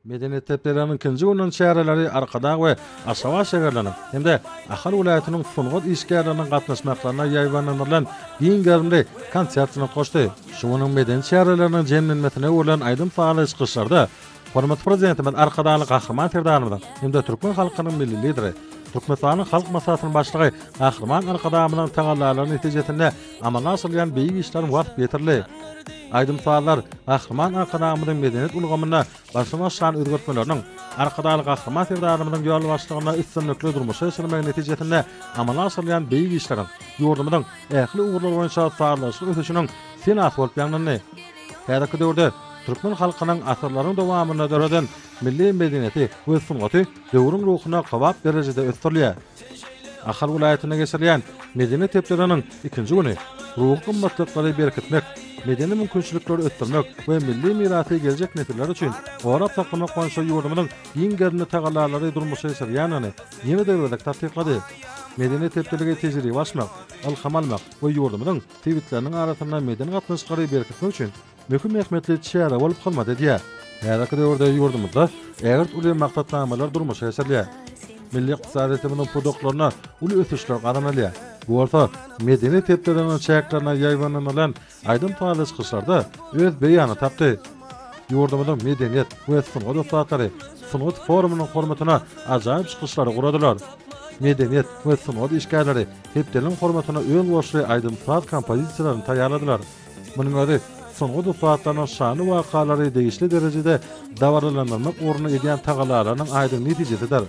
Medeniýet hepdeliginiň ikinji gününiň çäreleri Arkadag we Aşgabat şäherleriniň hem-de Ahal welaýatynyň sungat işgärleriniň gatnaşmaklarynda ýaýbaňlandyrylan giň gerimli konsert bilen hoşdy. Şu günüň medeni çäreleriniň jemlenmesine öwrülen aýdym-sazly çykyşlarda hormatly Prezidentimiz Arkadagly Gahryman Serdarymyzyň hem-de türkmen halkynyň Milli Lideri, Türkmenistanyň Halk Maslahatynyň Başlygy Gahryman Arkadagymyzyň tagallalary netijesinde amala aşyrylýan beýik işleriň wasp ýetirli aýdym-sazlar Gahryman Arkadagymyzyň medeniýet ulgamynda başdan aşyran özgertmeleriniň, Arkadagly Gahryman Serdarymyzyň ýolbaşçylygynda üstünlikli durmuşa geçirilmegi netijesinde amala aşyrylýan beýik işleriň ýurdumyzyň ähli ugurlar boýunça sazlaşykly ösüşiniň senasy bolup ýaňlandy. Häzirki döwürde türkmen halkynyň asyrlaryň dowamynda döreden milli medeniýeti we sungaty döwrüň ruhuna kybap derejede ösdürilýär. Ahal welaýatynda geçirilýän medeniýet hepdeleriniň ikinji güni ruhy gymmatlyklary berkitmek, medeni mümkinçilikleri ösdürmek we milli mirasy geljek nesiller üçin gorap saklamak boýunça ýurdumyzyň giň gerimli tagallalary durmuşa geçirilýändigini ýene-de bir gezek tassyklady. Medeniýet hepdeligi tejribe alyşmak, ylham almak we ýurdumyzyň sebitleriniň arasynda medeni gatnaşyklary berkitmek üçin möhüm ähmiýetli çäre bolup hyzmat edýär. Häzirki döwürde ýurdumyzda ägirt uly maksatnamalar durmuşa geçirilýär. Milli ykdysadyýetimiziň pudaklarynda uly ösüşler gazanylýar. Bu bolsa medeniýet hepdeliginiň çäklerinde ýaýbanynylan aýdym-sazly çykyşlarda öz beýanyny tapdy. Ýurdumyzyň medeniýet we sungat ussatlary sungat forumynyň hormatyna ajaýyp çykyşlary guradylar. Medeniýet we sungat işgärleri hepdeligiň hormatyna özboluşly aýdym-saz kompozisiýalaryny taýýarladylar. Munuň özi, sungat ussatlarynyň şanly wakalary degişli derejede dabaralandyrmak ugrunda edýän tagallalarynyň aýdyň netijesidir.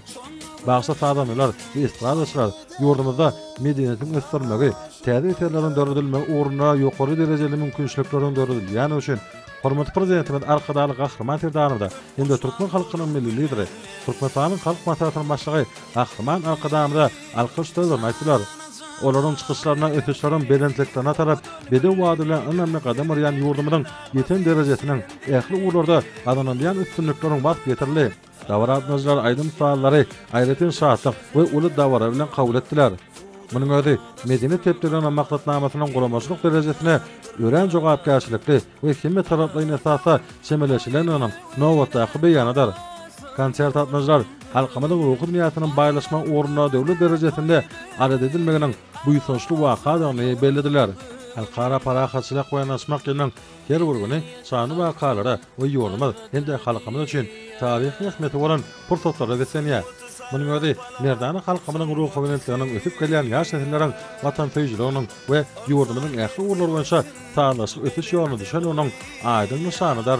Bagşy sazandalar we estradaçylar ýurdumyzda medeniýetiň ösdürilmegi, täze eserleriň döredilmegi ugrunda ýokary derejeli mümkinçilikleriň döredilýändigi üçin hormatly Prezidentimiz Arkadagly Gahryman Serdarymyza hem-de türkmen halkynyň Milli Lideri, Türkmenistanyň Halk Maslahatynyň Başlygy Gahryman Arkadagymyza Alkyş sözlerini aýtdylar. Olaryň çykyşlaryna ösüşleriň belentliklerine tarap bedew wagt bilen ynamly gadam urýan ýurdumyzyň ýeten derejesiniň, ähli ugurlarda gazanylýan üstünlikleriň waspy ýetirildi. Dabara gatnaşyjylar aýdym-sazlary aýratyn şatlyk we uly dabara bilen kabul etdiler. Munuň özi medeni sepgidiniň maksatnamasynyň guramaçylyk derejesine örän jogapkärçilikli, we hemme taraplaýyn esasda çemeleşilen onuň nobatdaky beýanydyr. Konsert gatnaşyjylar halkymyzyň ruhy dünýäsiniň baýlaşma ugrunda döwlet derejesinde adat edinmeginiň buýsançly wakadygyny bellediler. Halkara parahatçylyk we yanaşmak ýylynyň her bir güni şanly wakalara we ýurdumyz hem-de halkymyz üçin taryhy ähmiýeti bolan pursatlara beslenýär. Munuň özi merdana halkymyzyň ruhubelentliginiň ösüp gelýän ýaş nesilleriň watansöýüjiliginiň, we ýurdumyzyň ähli ugurlary boýunça sazlaşykly ösüş ýoluna düşen onuň aýdyň nyşanydyr.